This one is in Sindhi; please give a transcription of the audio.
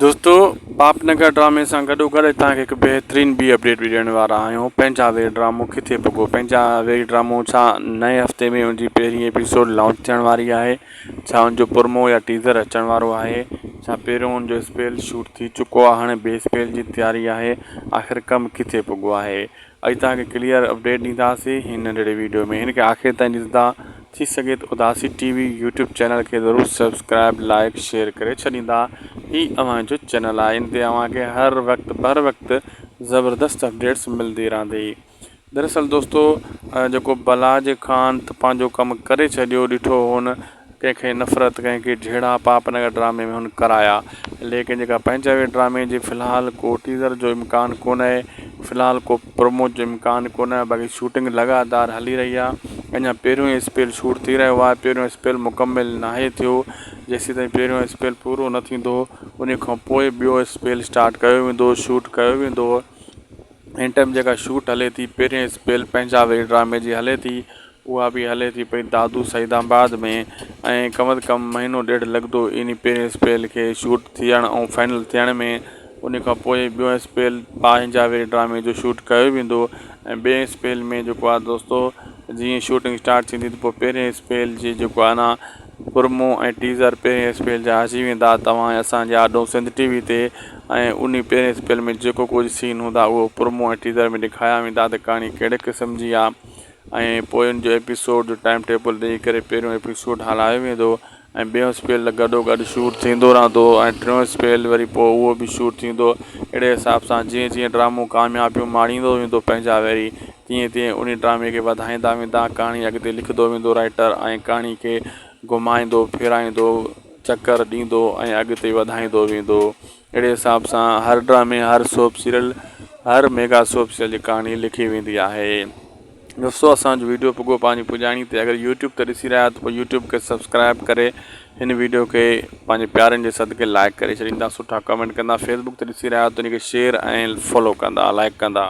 دوستو پاپ نگر ڊرامي سان گڏو گڏ تان کي هڪ بهترين ٻي اپڊيٽ به ڏيڻ وارا آهيون پنهنجا وير ڊرامو ڪٿي پڳو پنهنجا وير ڊرامو ڇا نئين هفتي ۾ ان جي پهرين ايپيسوڊ لانچ ٿيڻ واري آهي ڇا ان جو پرمو يا ٽيزر اچڻ وارو آهي ڇا پهريون ان جو اسپيل شوٽ ٿي چڪو آهي هاڻي ٻي اسپيل جي تياري آهي آخر ڪم ڪٿي پڳو آهي اڄ توهان کي ڪليئر اپڊيٽ ڏينداسين هن ننڍڙي ويڊيو ۾ هن کي آخر تائين ڏسندا ٿي سگهي ته اداسي ٽي وي يوٽيوب چينل کي ضرور سبسڪرائب لائق شيئر ڪري ڇڏيندا هي اوهان جو چينل آهي ان تي اوهان کي هر وقت بر وقت زبردست اپڊيٽس ملدي رهندي دراصل دوستو جيڪو بلاج خان ته پنهنجو ڪم ڪري ڇڏيو ڏٺو هن ڪنهن کي نفرت ڪنهن کي جهيڙا پاپ نگر ڊرامي ۾ هن ڪرايا ليڪن جيڪا پنهنجاوي ڊرامي جي في الحال ڪو ٽيزر جو امڪان ڪونهي في الحال ڪو پرومو جو امڪان ڪونهي باقي شوٽنگ لڳاتار هلي رهي آهي اڃا پهريون ئي اسپيل شوٽ ٿي رهيو آهي پهريون اسپيل مڪمل ناهي ٿيو جيسيتائين پهريون اسپيل پورو نه ٿيندو انهي کان پوء ٻيو اسپيل اسٽارٽ ڪيو ويندو شوٽ ڪيو ويندو هن ٽائيم جيڪا شوٽ هلي ٿي پهرين اسپيل پنهنجاوي ڊرامي جي هلي ٿي اها به هلي ٿي پئي دادو سعيد آباد ۾ ۽ ڪم از ڪم مهينو ڏيڍ لڳندو انهي پهرين اسپيل کي شوٽ ٿيڻ ۽ فائنل ٿيڻ ۾ انهي کان پوء ٻيون اسپيل باهه جاويري ڊرامي جو شوٽ ڪيو ويندو ۽ ٻئي اسپيل ۾ جيڪو آ دوستو جيئن شوٽنگ اسٽارٽ ٿيندي ته پوء پهرين اسپيل جي جيڪو آ نه پرمو ۽ ٽيزر پهرين اسپيل جا اچي ويندا توهان ۽ اسان جي آڏو سنڌ ٽي وي تي ۽ انهي پهرين اسپيل ۾ جيڪو ڪجهه سين هوندا اهو پرمو ۽ ٽيزر ۾ ڏيکايا ويندا ته ڪهاڻي ڪهڙي قسم جي آ ۽ پوين جو ايپيسوڊ جو ٽائيم ٽيبل ڏئي ڪري پهريون ايپيسوڊ هلايو ويندو ۽ ٻيون اسپيل گڏو گڏ شوٽ ٿيندو رهندو ۽ ٽيون اسپيل وري پوء اهو به شوٽ ٿيندو اهڙي حساب سان جيئن جيئن ڊرامو ڪاميابيون ماڻيندو ويندو پنهنجا ويري تيئن تيئن انهي ڊرامي کي وڌائيندا ويندا ڪهاڻي اڳتي لکندو ويندو رائيٽر ۽ ڪهاڻي کي گهمائيندو ڦيرائيندو چڪر ڏيندو ۽ اڳتي وڌائيندو ويندو اهڙي حساب سان هر ڊرامي، هر سوپ سيريل، هر ميگا سوپ سيريل جي ڪهاڻي لکي ويندي آهي. دوستو اسان جو ويڊيو پڳو پنهنجي پڄاڻي تي اگر يوٽيوب تي ڏسي رهيا آهيو ته پوء يوٽيوب کي سبسڪرائب ڪري هن ويڊيو کي پنهنجي پيارن جي صدقي لائيڪ ڪري ڇڏيندا سٺا ڪمينٽ ڪندا فيسبوڪ تي ڏسي رهيا آهيو ته ان کي شيئر ۽ فالو ڪندا لائيڪ ڪندا.